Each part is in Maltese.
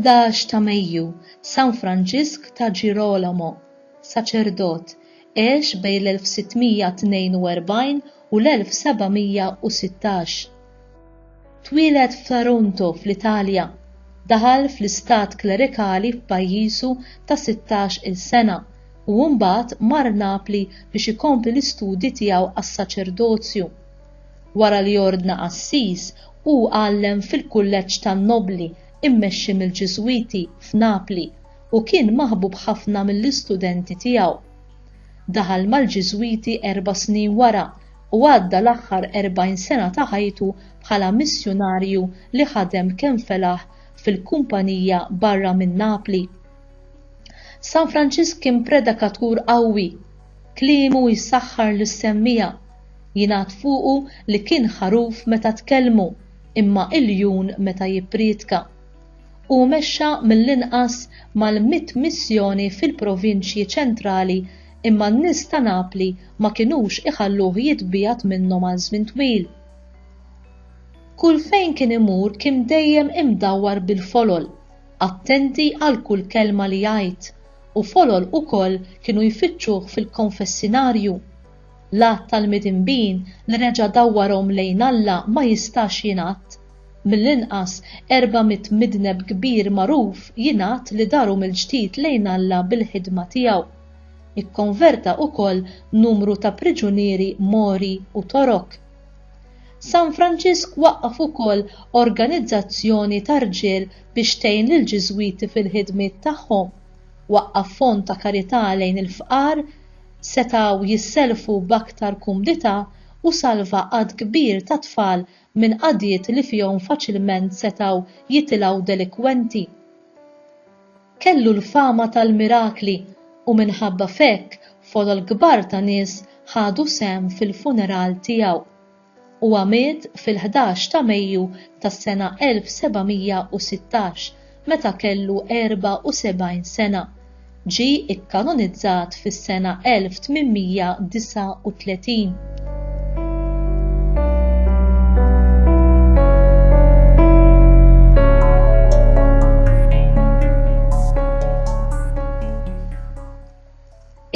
Ħdax ta' Mejju, San Franġisk ta' Ġirolomo, saċerdot, għex bejn l-1642 u l-1716. Twieled f'Taranto fl-Italja, daħal fl-istat klerikali f'pajjiżu ta' sittax-il sena u mbagħad mar Napli biex ikompli l-istudji tiegħu għas-saċerdozju. Wara li ordna qassis, hu għallem fil-kulleġġ tan-nobbli mmexxi mill-Ġiżwiti f'Napli u kien maħbub ħafna mill-istudenti tiegħu. Daħal mal-Ġiżwiti erba' snin wara u għadda l-aħħar erbgħin sena ta' ħajtu bħala missjunarju li ħadem kemm felaħ fil-Kumpanija barra minn Napli. San Franċisk kien predikatur qawwi. Kliemu jsaħħar lis-semmiegħa. Jingħad fuqu li kien ħaruf meta tkellmu, imma iljun meta jipprietka. Hu mexxa mill-inqas mal-mitt missjoni fil-provinċji ċentrali imma n-nies ta' Napli ma kinux iħalluh jitbiegħed minnhom għal żmien twil. Kull fejn kien imur kien dejjem imdawwar bil-folol, attenti għal kull kelma li jgħid, u folol ukoll kienu jfittxuh fil-konfessinarju. L-għadd tal-midinbin li reġa' dawwarhom lejn Alla ma jistax jingħadd. Mill-inqas 400 midneb kbir magħruf jingħad li daru mill-ġdid lejn Alla bil-ħidma tiegħu. Ikkonverta wkoll numru ta' priġunieri Mori u Torok. San Franġisk waqqaf ukoll organizzazzjoni ta' rġiel biex tgħin lill-Ġiżwiti fil-ħidmiet tagħhom, waqqaf fond ta' karità lejn il-fqar, setgħu jissellfu b'aktar kumdità u salva għadd kbir ta' tfal minn qagħdiet li fihom faċilment setgħu jitilgħu delikwenti. Kellu l-fama tal-mirakli u minħabba f'hekk folol kbar ta' nies ħadu sehem fil-funeral tiegħu. Huwa miet fil-ħdax ta' Mejju tas-sena 1716 meta kellu 74 sena, ġie kkanonizzat fis-sena 1839.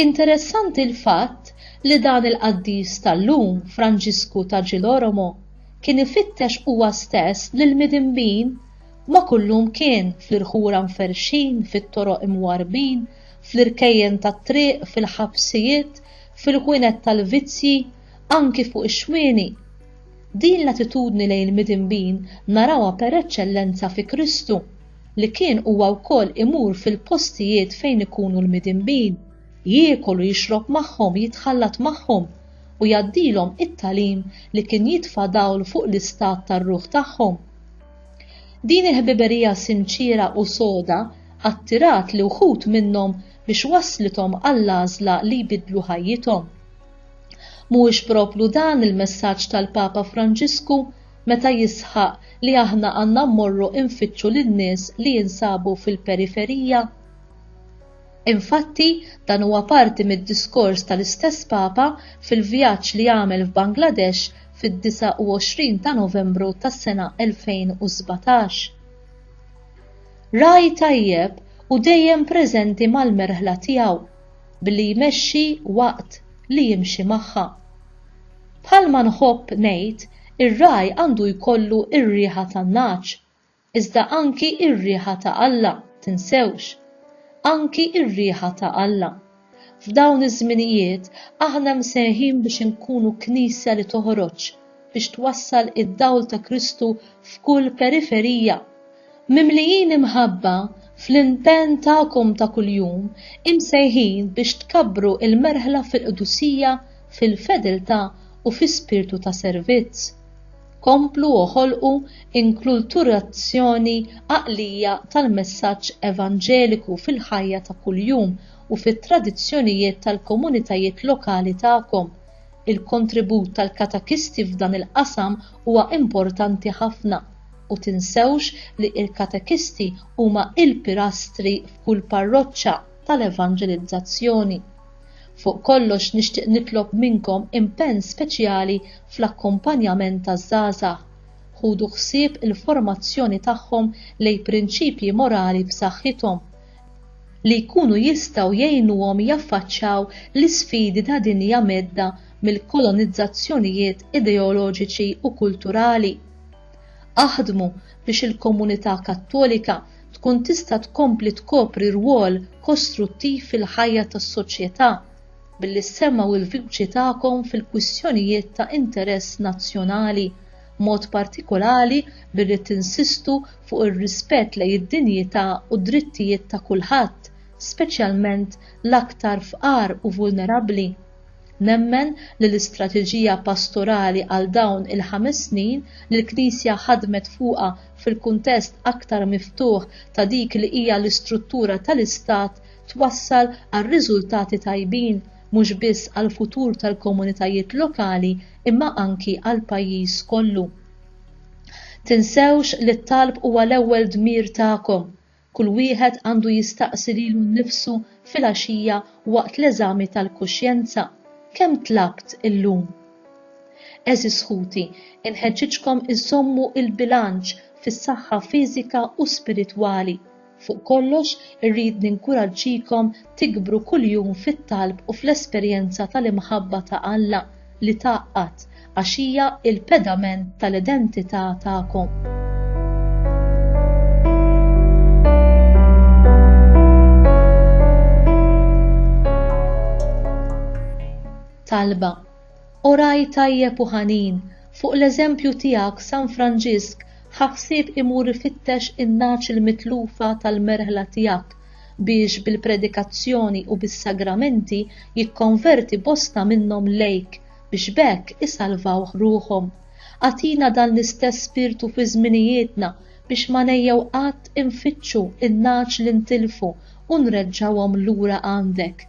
Interessanti l-fatt li dan il-qaddis tal-lum Franġisku ta' Ġiloromo kien ifittex huwa stess lil midinbin Ma kullum kien fl-irħura mferrxin, fit-toroq imwarrbin, fl-irkejjen tat-triq, fil-ħabsijiet, fil-ħwienet tal-vizzji, anki fuq ix-xwieni? Din l-attitudni lejn il-midinbin narawha per eċċellenza fi Kristu, li kien huwa wkoll imur fil-postijiet fejn ikunu l-midinbin, jiekol u jixrob magħhom, jitħallat magħhom, u jgħaddilhom it-tagħlim li kien jitfa' dawl fuq l-istat tar-ruħ tagħhom. Din il-ħbiberija sinċiera u soda attirat li wħud minnhom biex wasslithom għall-għażla li jbiddlu ħajjithom. Mhuwiex proplu dan il-messaġġ tal-Papa Franġisku meta jisħaq li aħna għandna mmorru nfittxu lin-nies li jinsabu fil-periferija? Infatti, dan huwa parti mid-diskors tal-istess Papa fil-vjaġġ li għamel f'Bangladesh fid-29 ta' Novembru tas-sena 2017. Ragħaj tajjeb u dejjem preżenti mal-merħla tiegħu billi jmexxi waqt li jimxi magħha. Bħalma nħobb ngħid ir-ragħaj għandu jkollu r-riħa tan-nagħaġ iżda anki r-riħa ta' Alla, tinsewx. Anki r-riħa ta' Alla. F'dawn iż-żminijiet aħna msejħin biex inkunu Knisja li toħroġ, biex twassal id-dawl ta' Kristu f'kull periferija. Mimlijin imħabba fl-impenn tagħkom ta' kuljum, imsejħin biex tkabbru l-merħla fil-qdusija, fil-fedeltà u fi spirtu ta' servizz. Komplu u ħolqu inkulturazzjoni għaqlija tal-messaġġ evanġeliku fil-ħajja ta' kuljum u fit-tradizzjonijiet tal-komunitajiet lokali tagħkom. Il-kontribut tal-katekisti f'dan il-qasam huwa importanti ħafna, u tinsewx li l-katekisti huma l-pilastri f'kull parroċċa tal-evanġelizzazzjoni. Fuq kollox nixtieq nitlob minnkom impenn speċjali fl-akkumpanjament taż-żgħażagħ. Ħudu ħsieb il-formazzjoni tagħhom lejn prinċipji morali b'saħħithom li jkunu jistgħu jgħinuhom jaffaċċaw l-isfidi ta' dinja mhedda mill-kolonizzazzjonijiet ideoloġiċi u kulturali. Aħdmu biex il-komunità Kattolika tkun tista' tkompli tkopri rwol kostruttiv fil-ħajja tas-soċjetà billi ssemmgħu l-vuċi tagħkom fil-kwistjonijiet ta' interess nazzjonali, b'mod partikolari billi tinsistu fuq ir-rispett lejn id-dinjità u d-drittijiet ta' kulħadd, speċjalment l-aktar fqar u vulnerabbli. Nemmen li l-istrateġija pastorali għal dawn il-ħames snin li l-Knisja ħadmet fuqha fil-kuntest aktar miftuħ ta' dik li hija l-istruttura tal-Istat twassal għal riżultati tajbin mhux biss għall-futur tal-komunitajiet lokali imma anki għall-pajjiż kollu. Tinsewx li t-talb huwa l-ewwel dmir tagħkom Kull wieħed għandu jistaqsi lilu nnifsu filgħaxija waqt l-eżami tal-kuxjenza, 'Kemm tlabt illum? Għeżież ħuti, inħeġġiġkom iżżommu l-bilanċ fis-saħħa fiżika u spiritwali. Fuq kollox, irrid ninkuraġġikom tikbru kuljum fit-talb u fl-esperjenza tal-imħabba ta' Alla li tgħaqqad, għax hija l-pedament tal-identità tagħkom. Talba Oraj tajjeb u ħanin, fuq l-eżempju tiegħek San Franġisk ħaħsib imur ifittex in-nagħaġ il-mitlufa tal-merħla tiegħek biex bil-predikazzjoni u bis-sagramenti jikkonverti bosta minnhom lejk biex b'hekk isalvawh ruħhom. Agħtina dan l-istess spirtu fi żminijietna biex ma ngħejjew qatt infittxu n-nagħaġ li ntilfu u nreġġgħuhom lura għandek.